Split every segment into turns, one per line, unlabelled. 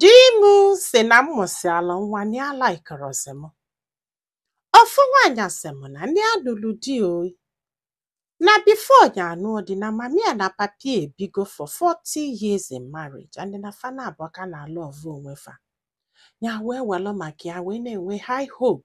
Di m sị na m mụsịala nwa na ya laikirọzi m. Ofu nwaanyị asị m na ya nụlụ di o. Na before ya anụọ di na mama ya na papa ya ebigo for 40 years in marriage and na fa naabọ ka na-alọvụ onwe fa. Ya wee welụ maka ya wee na-enwe high hope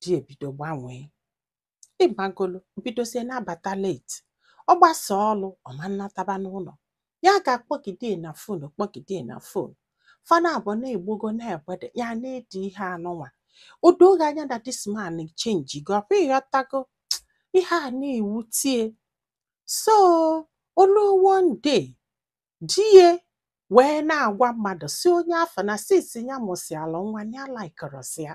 di ebido gbanwee ịmagolo bidozie na-abata late ọ gbasa ọlụ ọ ma nataba n'ụlọ ya ga-akpọgide na phone kpọgide na phone fa naabọ na-egbogo na bed ya na-edi ihe anụnwa o doo ya anya na this man chenjigo ọ kwa ịghọtago ihe a na-ewute ya so o lu one day di ya wee na-agwa mmadụ sị onye afụ na since ya mụsịala nwa ya laikirọzi ya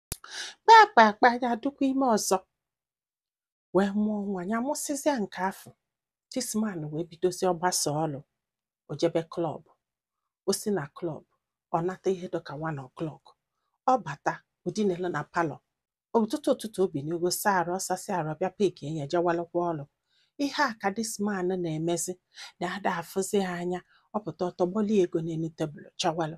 kpakpa akpa ya adụkwa ime ọzọ wee mụọ nwa ya mụsịzịa nke afụ this man wee bidozie ọ gbasa ọlụ o jebe club o si na club ọ nata ihe dịka one o'clock ọ bata o dinalụ na palọ ụtụtụ ụtụtụ o binigo saa arụ ọ sasịa arụ ọ bịa peki enye jewalụkwa ọlụ ihe a ka this man na-emezi na ada afụzi ya anya ọ pụta ọ tọgbọlị ego n'elu tebụl jewalụ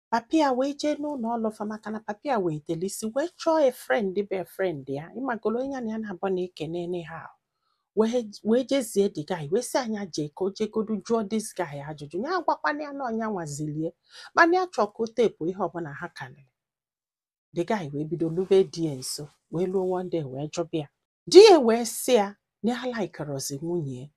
papi ya wee jee n'ụlọ ọlụ fa maka na papi ya wee delisi wee chọọ a friend be a friend ya ịmagolo onye na ya na-abụ na ekene n'ihe ahụ wee wee jezie the guy wee sị ya nya jee ka o jegodu jụọ this guy ajụjụ ya agwakwana ya na ọ nya nwa zili ya mana ya chọọ ka o tepu ihe ọbụla ha kalịrị the guy wee bido lube di ya nso wee luo one day wee jụba ya di ya wee sị ya na ya laikirọzi nwunye ya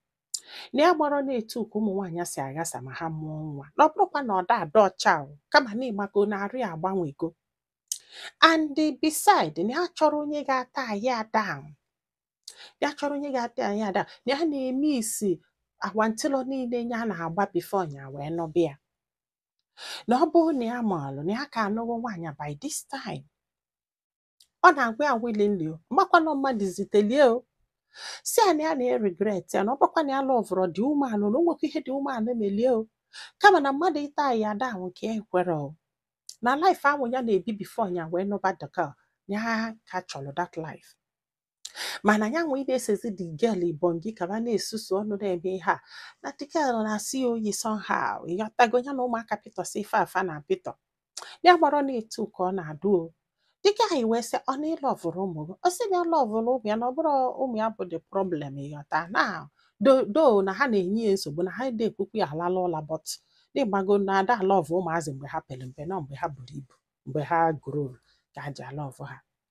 na ya amarọ na etu ka ụmụ nwaanyị si aghasa ma ha mụọ nwa na ọ bụrọkwa na ọ da adụ ọcha o, kama na ịmago na arụ ya agbanwego and beside na ya chọrọ onye ga-atai ya down ya chọrọ onye ga-atai ya down na ya na-emiss awantịlọ niile ya na-agba before ya wee nụba ya na ọ bụrụ na ya maalụ na ya ka anụghị nwaanyị by this time ọ na-agwa ya willingly o makwa na ọ mmadụ zitelie o sị ya na ya na-eregret ya na ọ bụkwa na ya lọvụrọ the woman na o nwekwa ihe the woman melie o kama na mmadụ ịtai ya down ka ya ekwerọ o na life ahụ ya na-ebi before ya wee nụba dịka ya ka chọrọ that life mana ya wee na-esezi the girl ibongi ka ba na-esusu ọnụ na-eme ihe a na the girl na-asọ ya oyi somehow ịghọtago ya na ụmụaka pịtọsị ife afụ a na-apịtọ ya amarọ na etu ka ọ na-adụ o the guy wee sị ọ na ị lọvụrọ ụmụ gị ọ sị na ya lọvụrụ ụmụ ya na ọ bụrọ ụmụ ya bụ the problem ịghọta na though though na ha na-enye ya nsogbu na ha adị ekwekwu ya alala ụla but na ịmago na ada alọvụ ụmụazị mgbe ha pere mpe na mgbe ha buru ibu mgbe ha grow ka ha ji alọvụ ha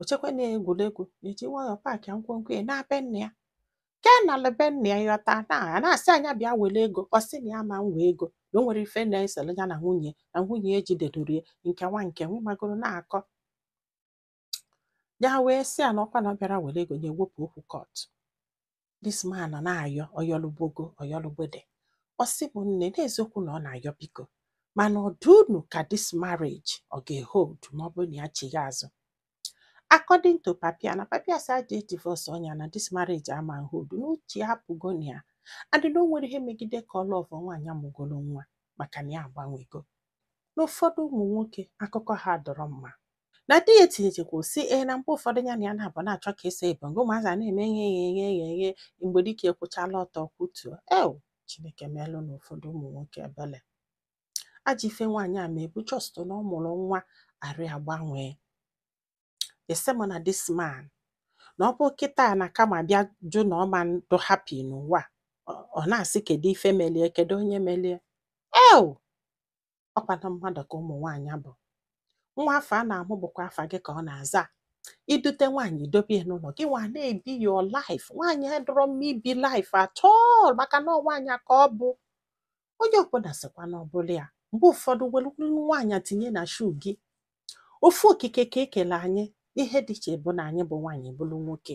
o chekwa na ya egwuregwu eji nwayọọ paakịa ngwongwo ya naa be nna ya ke nalu be nna ya yọta na a na-asị ya nya bịa were ego ọ sị na ya ma nwe ego na o nwere ife na-esere ya na nwunye na nwunye ya ejidedoro ya nke nwa nke nwa magoro na-akọ ya wee sị ya na ọkwa na ọ bịara were ego ya ewepụ okwu court this man nọ na-ayọ ọyọlụgbogo ọyọlụgbede ọ sị m nne n'eziokwu na ọ na-ayọ biko mana ọ dị unu ka this marriage ọ ga-ehold ma ọ bụrụ na ya chigha azụ according to papa ya na papa ya sị a ja-edivorce nya na this marriage ama hold na uche ya apụgo na ya and na o nwere ihe megide ka ọ love nwaanyị amụgolo nwa maka na ya agbanwego na ụfọdụ ụmụ nwoke akụkọ ha adọrọ mma na di ya etinyechekwa si ee eh, na mgbe ụfọdụ ya na ya na-abụ na-achọ ka eso ebe ngo ụmụazị a na-eme ihe eghe eghe eghe eghe mgbe dike ekwụchala ọtọ kwutuo ew chineke meelụnụ ụfọdụ ụmụ nwoke ebele ajọ ife nwaanyị a melu bụ just na ọ mụrụ nwa arụ ya agbanwee ese m na this man na ọ bụ kịta na karma bịa jụ na ọ ma ndụ happy n'ụwa ọ na-asị kedu ife melu ya kedu onye melu ya ew ọkwa na mmadụ ka ụmụ nwaanyị bụ nwa afụ a na-amụ bụkwa afa gị ka ọ na-aza i dute nwaanyị dobe ya n'ụlọ gị nwa na-ebi your life nwaanyị adọrọ mma ibi life at all maka na nwaanyị ka ọ bụ onye ọbụla sịkwa na ọ bụlụ ya mgbe ụfọdụ were nwaanyị tinye na shoe gị ofu okike ka e kelu anyị ihe dị iche bụ na anyị bụ nwaanyị ị bụrụ nwoke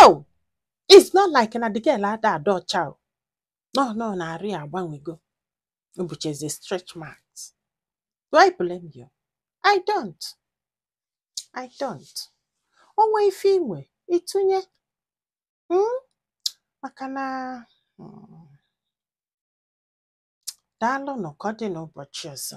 oh it's not like na the girl ada adị ọcha o no no na arụ ya agbanwego o buchazi stretch marks do i blame you i don't i don't o nwee ife i nwee ịtụnye mm? maka na mm, daalụ nụ ka ọ dị n'ụbọchị ọzọ